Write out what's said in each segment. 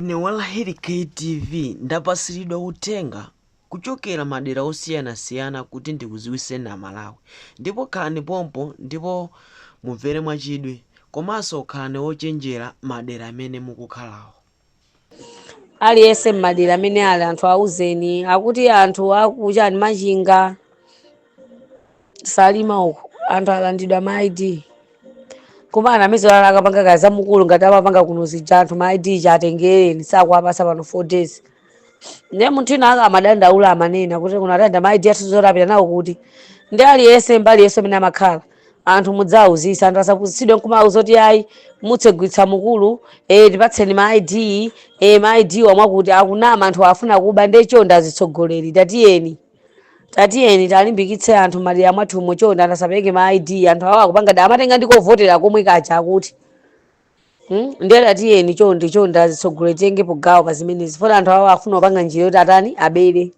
Ine Walahiri KTV ndapatsilidwa uthenga kuchokela madera osiyana siyana kuti ndikudziwitseni amalawi ndipo khalani pompo ndipo mumvele mwachidwi komanso khalani ochenjela madera amene mukukhalawo. Aliyese mmadera amene ali anthu auzeni akuti anthu aku chani Machinga, salima uku anthu alandidwa ma id koma ana amene zolala akapanga za mukuru ngati amapanga kuno zija anthu ma id chatengereni sakuwapasa pano 4 days ndiye munthu ina aka amadandaula amanena kuti kuno atenga ma id athu zoti apita nawo kuti ndi aliyense mbali yense amene amakhala anthu mudzauzisa anthu asapusitsidwe nkumauza kuti ayi mutsegulitsa mukuru eh, tipatseni ma id eh, ma id omwe akuti akunama anthu afuna kuba ndiye chonda azitsogoleri tatiyeni tatiyeni talimbikitse anthu madera mwathumo chonde anthu asapereke ma id anthu awo akupanga da amatenga ndi kovotera komwe kaja akuti Hmm? ndiye tatiyeni chonde chonde azitsogoleri titengepo gawo pa zimenezi poti anthu awo afuna kupanga njira yoti atani abere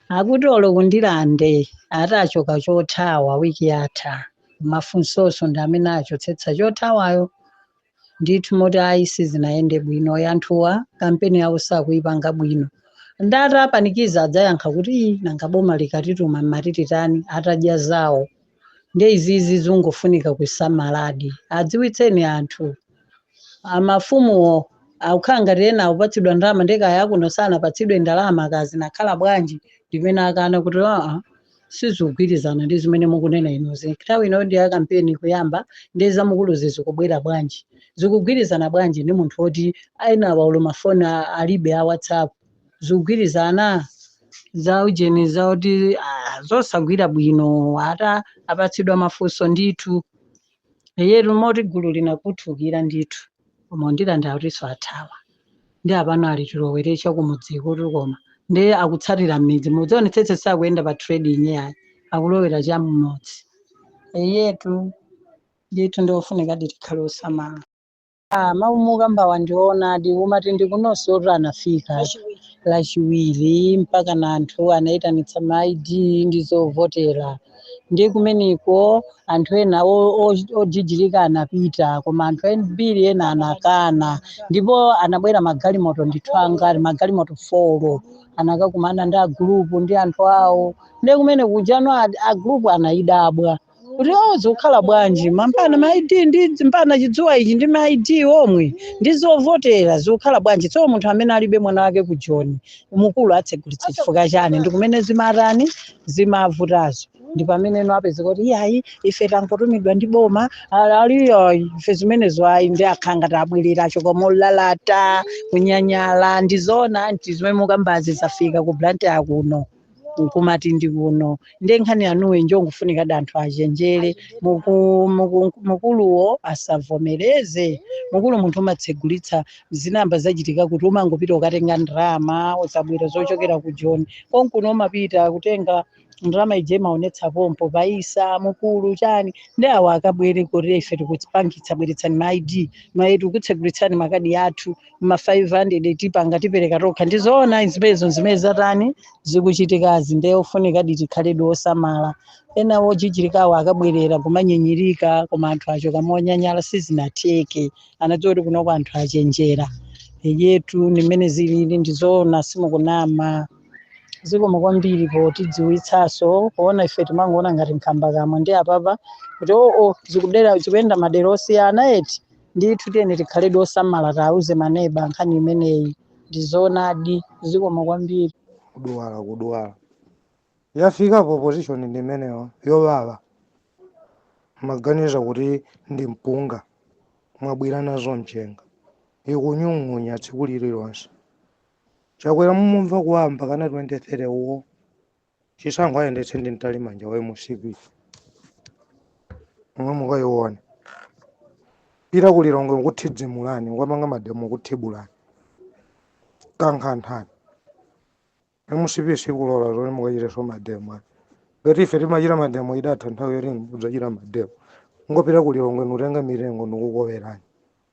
akuti olo ku Ndirande atachoka chothawa wiki yatha mafunsoso ndi amene achotsetsa chothawayo ndithu moti ayi sizinayende bwino anthuwa kampeni yawo sakuyipanga bwino atawapanikiza adzayankha kuti "Ii, nanga boma likatituma mmati titani atadya zawo nde izizi zingofunika kusamaladi adziwitseni anthu amafumuwo akukhala ngati ena akupatsidwa ndalama ndekaya akuno sanapatsidwe ndalama kaya zinakhala bwanji ndimene akana kuti aa sizikugwirizana ndi zimene mukunena inuzi nthawi ino ndi ya kampeni kuyamba ndi za mukuruzi zikubwera bwanji zikugwirizana bwanji ndi munthu woti enawa olo mafoni a- alibe a whatsapp zikugwirizana za ujeni za kuti ah, zosagwira bwino atapatsidwa mafunso ndithu Eyetu moti gulu linakhuthukira ndithu ku Ndirande akutiso athawa ndiye pano ali tilowere chakumudzikotu koma ndiye akutsatira mmidzi mudzionetsetse sakuyenda pa trading yayi akulowera cham'mudzi eyetu ndithu ndiofunikadi tikhale osamala Ah, mawu mukukambawa ndi oonadi moti ndi kunoso oti anafika lachiwiri mpaka na anthu anayitanitsa ma id ndi zovotera ndi kumeneko anthu ena o- o- ojijirika anapita koma anthu ambiri ena anakana ndipo anabwera magalimoto ndithu angati magalimoto folo anakakumana ndi agulupu ndi anthu awo ndi kumene kujano agulupu anayidabwa kuti awo zikukhala bwanji mampana ma id ndi mpana chidzuwa ichi ndi ma id omwe ndi zovotera zikukhala bwanji tsono munthu amene alibe mwana wake ku joni mukulu atsegulitsa chifukwa chani ndi kumene zimatani zimavutazo ndi pamene ino apezeka kuti iyayi ife tangotumidwa ndi boma a- aliyo ife zimenezo ayi ndi akhangatabwerera achoka molalata kunyanyala ndi zona nti zimene mukambazi zafika ku blantyre kuno nkumati ndi kuno nde nkhani yanuyi njofunikadi anthu achenjere Muku- muku- mukuluwo asavomereze mukulu munthu umatsegulitsa zinamba zachitika kuti umangopita ukatenga ndalama osabwera zochokera ku joni konkuno umapita kutenga ndalama ije imaonetsa pompo paisa mukulu chani ndi awo akabwere kuti ife tikupangitsa bweretsani ma id mayetu kutsegulitsani makadi athu ma 500 tipanga tipereka tokha ndizoona zimenezo zimene zatani zikuchitikazi ndiye ofunikadi tikhaledi osamala ena wojijirikawo akabwerera kumanyinyirika koma anthu achoka monyanyala sizinatheke anadziwa kuti kunoko anthu achenjera eyetu ndi mmene zilili ndizoona simukunama zikomo kwambiri potidziwitsaso poona ife timangoona ngati nkhambakamwa nde apapa kuti oo zikudera zikuyenda madera osiyana eti ndithu tiyeni tikhaledi osamala tauze maneba nkhani imeneyi ndizoonadi zikomo kwambiri kudwala kudwala yafikapo opposition ndi imeneyo yowawa mumaganiza kuti ndi mpunga mwabwira nazo mchenga ikunyung'unya tsiku lililonse chakwera mumumva kuwawa mpaka 2030 uwo chisankho ayendetse ndi mtalimanja wa mcp omwe mukayiona kupita ku lilongwe kukuthidzimulani mukapanga mademo kuthibulani kukhanthani mcp sikulola zoti mukachiteso mademo ayi. ngati ife timachita mademo idatha nthawi yoti mudzachita mademo kungopita ku lilongwe nkutenga mitengo nikukowerani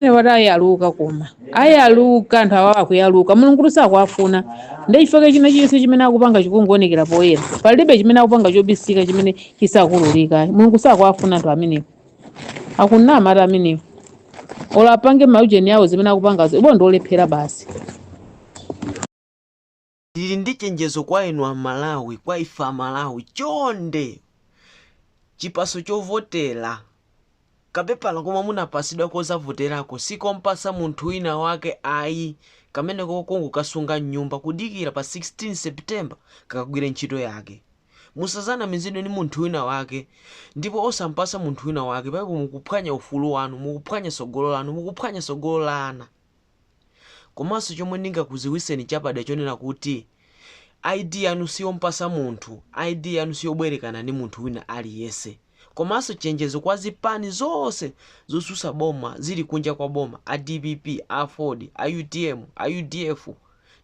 Ine ati ayaluka koma ayaluka anthu awa akuyaluka mulungu sakuwafuna ndi chifukwa china chilichonse chimene akupanga chikungoonekera poyera palibe chimene akupanga chobisika chimene chisakululika mulungu sakuwafuna anthu amenewo akunama ati amenewo olo apange maujeni awo zimene akupangazo iwo ndi olephera basi Ndili ndi chenjezo kwa inu a Malawi, kwa ife a Malawi, chonde chipaso chovotela, kapepala komwe munapasidwa kozavotelako sikompasa munthu wina wake ayi, kameneko kongokasunga mnyumba kudikila pa 16 September kakagwile ntchito yake. Musazanamizidwe ndi munthu wina wake ndipo osampasa munthu wina wake, paipo mukuphwanya ufulu wanu, mukuphwanya sogolo lanu, mukuphwanya sogolo la ana. Komanso chomwe ningakuziwiseni chapada chonena kuti ID yanu siyompasa munthu, ID yanu siyobwerekana ni munthu wina aliyense. Komanso chenjezo kwa zipani zonse zosusa boma zili kunja kwa boma, a dpp, a aford, a utm, a udf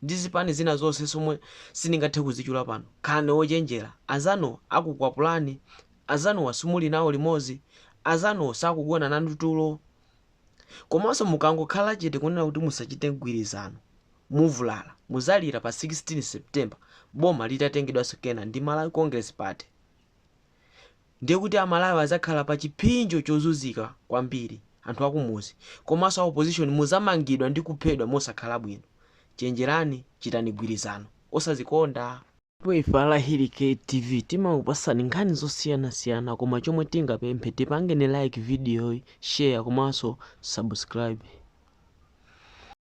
ndi zipani zina zonse somwe siningathe kuzichula pano, khalani ochenjera, anzanuwo akukwapulani, anzanuwa simuli nawo limozi, anzanuwo sakugona nanu tulo. Komanso mukangokhala chete kunena kuti musachite mgwirizano muvulala, muzalira pa 16 September boma litatengedwanso kena ndi Malawi Congress Party. Ndiye kuti a Malawi azakhala pa chipsinjo chozuzika kwambiri, anthu akumuzi komanso a opposition muzamangidwa ndi kuphedwa mosakhala bwino. Chenjerani, chitani mgwirizano osazikonda. Ndipo ife a Lahiri K TV timakupasani nkhani zosiyanasiyana koma chomwe tingapemphe tipangeni like video yi, share komanso subscribe.